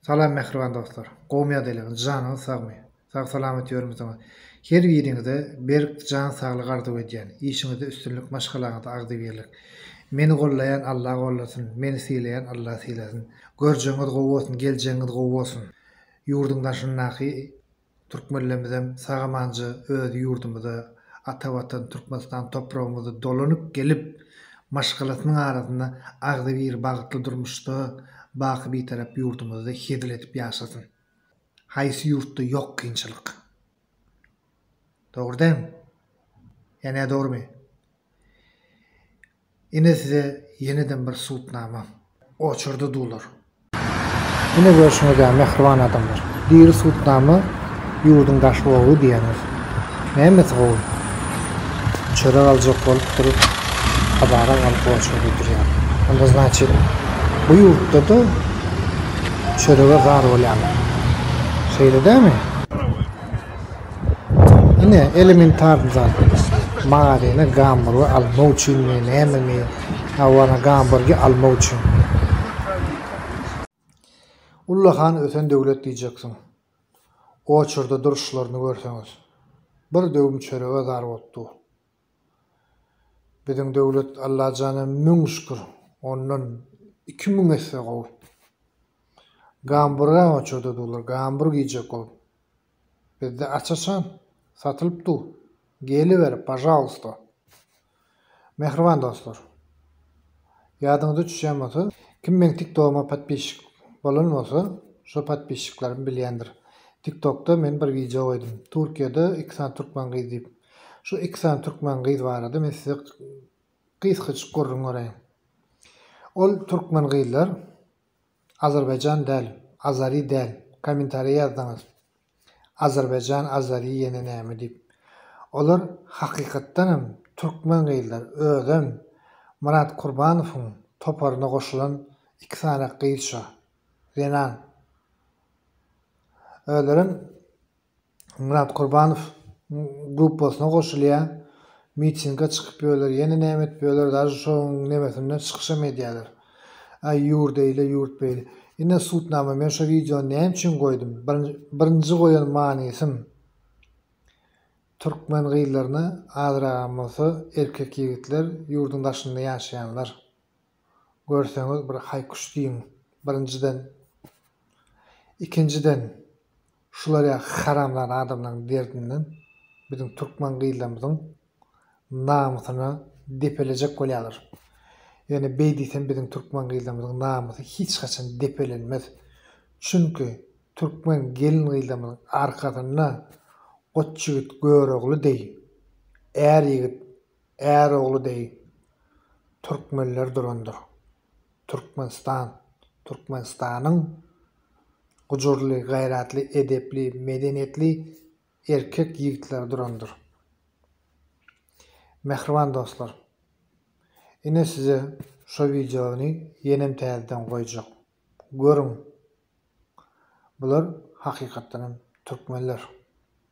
Salam mähriban dostlar. Gowy ýa deli. Janyňyz sagmy. Sag salamat ýörmüsiňiz. Her biriňize berk jan saglyk arzuw edýän. Işiňizde üstünlik maşgalaňyza agzybirlik. Meni gollaýan Alla gollasyn, meni sylaýan Alla sylasyn. Görjegiňiz gowy bolsun, geljegiňiz gowy bolsun. Ýurduň daşyndaky. Türkmenlerimizem sag-amanja öz ýurdumyza, ata Watan Türkmenistan topragymyza dolanyp gelip, maşgalasynyň arasynda agzybir bagtly durmuşda baky Bitarap ýurdumyzda hezil edip ýaşasyn. Haýsy ýurtda ýok kynçylyk? Dogry dämi? Ýa nädogrymy? Ine size ýeneden bir sudnama. Oçurdy dular. Ine görşüňiz ýa mähriban adamlar. Diri sudnama ýurduň daş oby diýeniz. Nämesi gowy? Çörek aljak bolup durup kabara galyp oçurdy durýar. Onda znaçit bu ýurtda-da çörege zar bolýarlar. Şeýle dämi? Ine, elementarny zat. Maryna gamburgy almak üçinmi, nämemi? Hawa, gamburgy almak üçin. Ullakan ösen döwlet diýjeksiň. Oçurda duruşlaryny görseňiz. Bir döwüm çörege zar bolup dur. Biziň döwlet Allajana müň şükür, ondan iki müň esse gowy. Gamburgy-a oçurda durlar, gamburg iýjek bolup. Bizde açyşan satylyp dur geliber pažalysta. Mähriban dostlar. Ýadyňyza düşýän bolsa kim meň tiktogyma podpisçik bolan bolsa şo podpisçiklerim bilýändir. Tiktokda men bir wideo goýdum. Türkiýede iki sany türkmen gyz diýip. Şu iki sany türkmen gyz barada men size gysgajyk gürrüň göreýin. Ol türkmen gyzlar Azerbaýjan däl, Azari däl, kommentariýa ýazdyňyz. Azerbaýjan, Azari ýene näme diýip. Olar hakykatdan hem türkmen gyzlar, özem Myrat Kurbanowyň toparyna goşulan iki sany gyz şo, zenan. Özlerem Myrat Kurbanow gruppasyna goşulýar. Mitinge çykyp ýörler, ýene näme edip ýörler, daže şoň nemesinde çykyşam edýärler. Aý ýur deýle ýurt beýle. Ine sudnama men şo wideony näme üçin goýdum? Birinji goýan manysym türkmen gyzlaryna azragam bolsa erkek ýigitler ýurduň daşynda ýaşaýanlar. görseňiz bir haýkuş diýiň birinjiden ikinjiden şular ýaly haramzada adamlaryň derdinden biziň türkmen gyzlarymyzyň namysyna depelejek bolýalar ýöne beý diýsem biziň türkmen gyzlarymyzyň namysy hiç haçan depelenmez çünki türkmen gelin gyzlarymyzyň arkasynda goç ýigit görogly deý är ýigit Är ogly deý türkmenler durandyr. Türkmenistan, Türkmenistanyň gujurly, gaýratly, edepli, medeniýetli erkek ýigitleri durandyr. Mähriban dostlar, ine size şo wideony ýenem täzeden goýjak. Görüň, bular hakykatdanam türkmenler.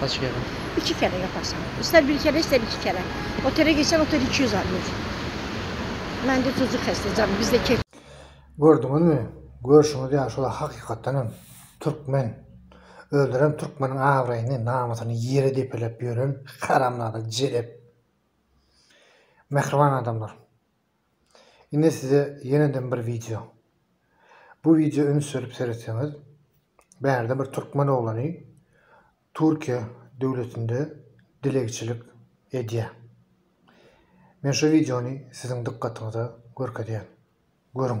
Kaç kere? Iki kere yaparsan. İster bir kere ister iki kere. Otele gitsen otel 200 alıyor. Ben de tuzu kestim canım. Bizde kek. Gördüňizmi? Görşüňiz ýaly şular hakykatdan hem türkmen. Öldürem türkmeniň abraýyny, namysyny ýere depeläp ýören haramzada jelep. Mähriban adamlar. Indi size ýeneden bir wideo. Bu wideo üns berip seretseňiz, bärde bir türkmen oglany Türkiýe döwletinde dilegçilik edýär. Men şu wideony siziň dykgatyňyza görkezýän. Görüň.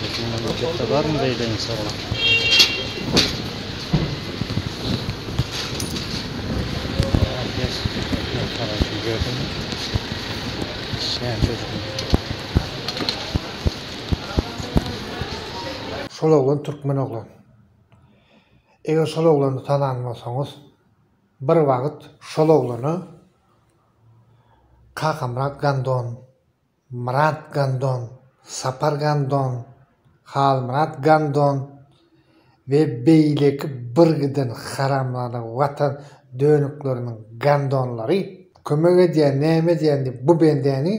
Biziň memleketde barmy beýle insanlar? Herkes ekmek parasy ýerden. Sen çocukmy? Şol oglan türkmen oglan. Eger şol oglany tanan bolsaňyz. Bir wagt şol oglana Kakamyrat Gandon, Myrat Gandon, Sapar Gandon, Halmyrat Gandon we beýleki birgiden haramzada watan dönükleriniň gandonlary kömek edýän, näme edýän diýip bu bendäni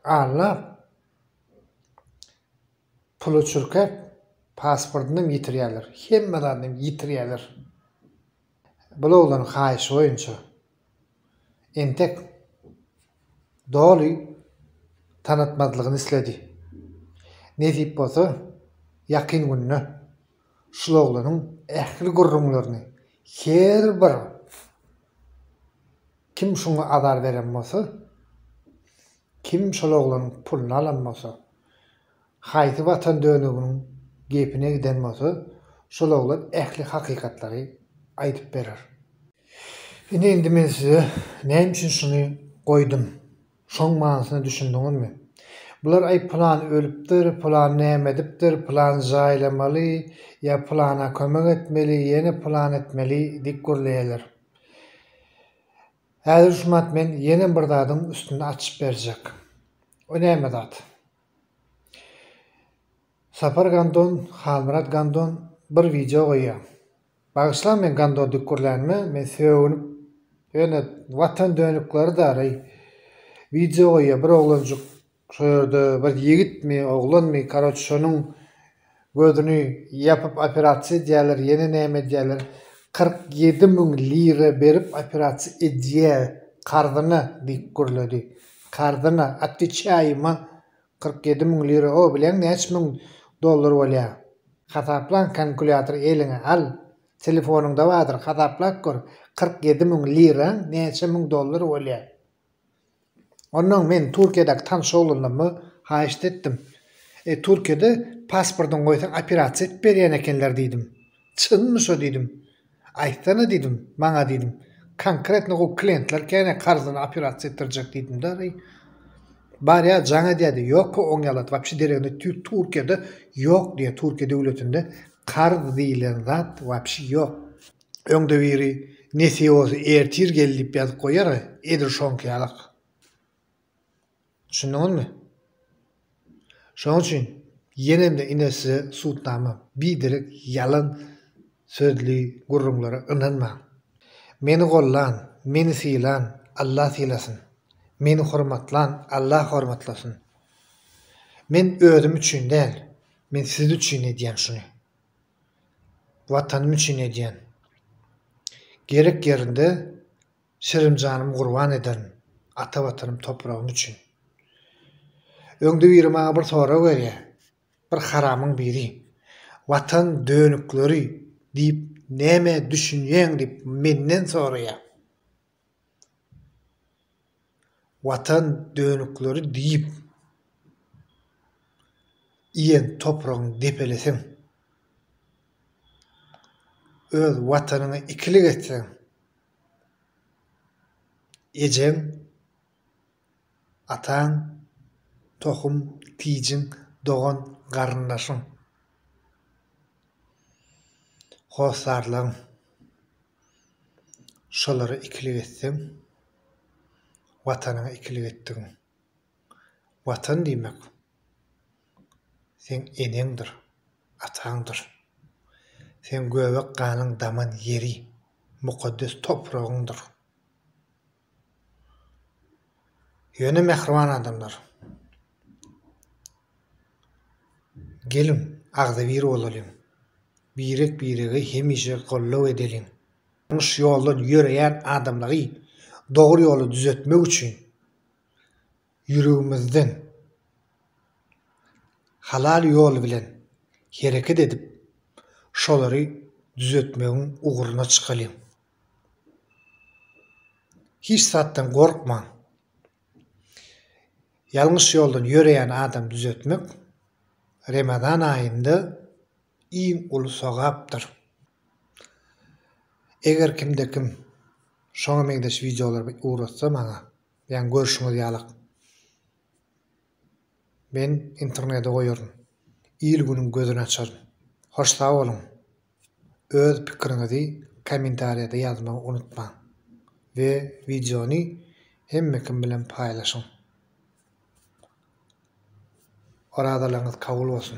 alnap, Puly çürkäp, pasportynam ýitirýärler, hemme zadyny ýitirýärler. Bul oglan haýyşy boýunça entek doly tanatmazlygyny isledi. Nesip bolsa, ýakyn günde şul oglanyň ähli gürrüňlerini her bir kim şuňa azar beren bolsa, Kim şol oglanyň puluny alan bolsa, haýsy watan dönüginiň gepine giden bolsa, şol oglan ähli hakykatlary aýdyp berer. Ine indi men size näme üçin şuny goýdum, şoň manysyna düşündiňizmi? Bular aý pylan ölüpdir, pylan näme edipdir, pylan jaýlamaly ýa pylana kömek etmeli, ýene pylan etmeli diýip gürleýärler. Häzir Jumat men ýene bir zadyň üstüni açyp berjek. O näme zat? Sapar Gandon, Halmyrat Gandon bir wideo goýýa. Bagyşlaň meň Gandondyk gürlänime, men sögünip ýöne Watan dönükleri-dary wideo goýýa bir oglanjyk Şo ýerde bir ýigitmi, oglanmy, karoç, şonuň gözüni ýapyp operasiýa edýärler, ýene näme edýärler, kyrk ýedi müň lira berip operasiýa edýär, karzyna, diýip gürledi. Karzyna, otweçaýyma, kyrk ýedi müň lira, o, bileň näçe müň dollar bolýar? Hasaplan, konkulýatory eliňe al, telefonyňda bardyr, hasaplap gör, kyrk ýedi müň liraň näçe müň dollar bolýar? Onnoň men Türkiýedäki tanyş oglanlarma haýyşt etdim. E, Türkiýede pasportyňy goýsaň operasiýa edip berýän ekenler diýdim. Çynmy şo diýdim. Aýtsana diýdim, maňa diýdim. Konkretno gowy klientler kän karzyny operasiýa etdirjek diýdim-de reý. Barýa jaň edýärdi. Ýokka oň ýalat wapşe deregine Türkiýede ýok diýýä. Türkiýe döwletinde karz diýilen zat wapşe ýok. Öňde biri Nesiosy ertir gel diýip ýazyp goýar, edil şoňky ýalak. Düşündiňizmi? Şoň üçin ýenem-de ine size sudnama, biderek ýalan sözli gürrüňlere ynanmaň. Meni gollan, meni sylan, Alla sylasyn. Meni hormatlan, Alla hormatlasyn. Men özüm üçin däl, men siz üçin edýän şuny. Watanym üçin edýän. Gerek ýerinde şirin janymy gurban ederin ata Watanym topragym üçin. Öňde biri maňa bir sorag berýär, bir haramyň biri, Watan dönükleri diýip nämä düşünýäň diýip menden soraýar. Watan dönükleri diýip iýen topragyň depelisiň. Öz Watanyňy ikilik etseň, ejeň, ataň, tohum, tijiň, dogan, garyndaşyň, hossarlaryň. Şolara ikilik etseň, Watanyňa ikilik etdigiň. Watan diýmek, seň eneňdir, ataňdyr. Seň göbek ganyň daman ýeri, mukaddes topragyňdyr. Ýöne mähriban adamlar. Geliň, agzybir bolalyň. Birek-birege hemişe goldaw edeliň. Ýalňyş ýoldan ýöreýän adamlary dogry ýola düzetmek üçin ýüregimizden halal ýol bilen hereket edip, şolary düzetmegiň ugruna çykalyň. Hiç zatdan gorkmaň. Ýalňyş ýoldan ýöreýän adamy düzetmek Remezan aýynda iň uly sogapdyr. Eger kimde kim şoňa meňzeş wideolary ugratsa maňa, ýagny görşüňiz ýalak. Men internede goýaryn. Il günüň gözüni açaryn. Hoş sag boluň. Öz pikiriňizi kommentariýada ýazmagy unutmaň. We wideony hemme kim bilen paýlaşyň. Orazalaryňyz kabul bolsun.